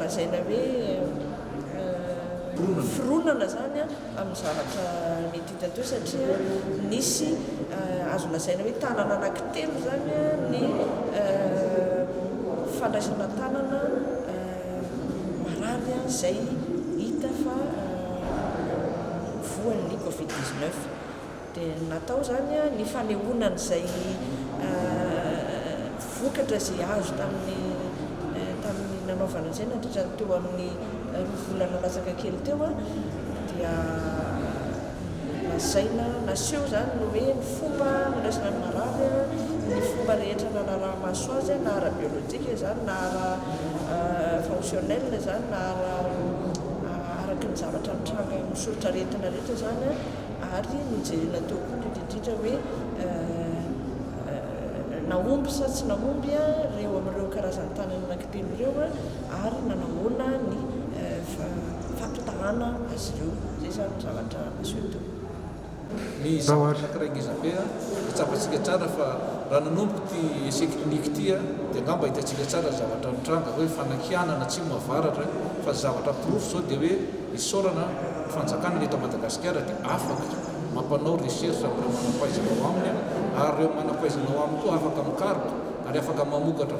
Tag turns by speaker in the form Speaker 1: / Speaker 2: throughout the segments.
Speaker 1: lazaina hoe fironana izany amin'ny zavatra mety hita teo satria nisy azo lazaina hoe tanana anankitelo izany ny fandraisana tanana marary izay hita fa voan'ny covid dix-neuf. Dia ny natao izany ny fanehoana an'izay vokatra izay azo tamin'ny tamin'ny nanaovana an'izay nandritra ny teo amin'ny roa volana latsaka kely teo dia lazaina naseho izany ny hoe ny fomba nandraisana ny marary ny fomba rehetra nanaraha-maso azy na ara-biolojika izany na ara fonctionnel izany na ara araky ny zavatra nitranga amin'ny soritr'aretina rehetra izany Ary nojerena teo koa ny indrindra hoe nahomby sa tsy nahomby ireo amin'ireo karazan-tanana nankiteny ireo ary nanahoana ny fampitahana azy ireo. Izay izany ny zavatra naseho teo. Ny
Speaker 2: zavatra anankiray ngeza be an, dia tsapantsika tsara fa raha nanomboka ity essai clinique ity dia angamba hitantsika tsara ny zavatra nitranga hoe fanakianana atsimo avaratra fa ny zavatra porofo izao dia hoe, Isaorana ny fanjakana ny eto Madagasikara dia afaka mampanao recherche amin'ireo manampahaizana ao aminy ary ireo manampahaizana ao aminy koa afaka mikaroka ary afaka mamokatra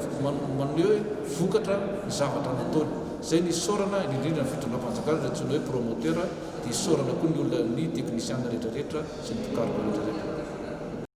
Speaker 2: maneho vokatra ny zavatra nataony. Izay ny isaorana indrindra ny fitondram-panjakana izay antsoina hoe promoteur dia isaorana koa ny olona ny technician rehetra rehetra sy ny mpikaroka rehetra rehetra.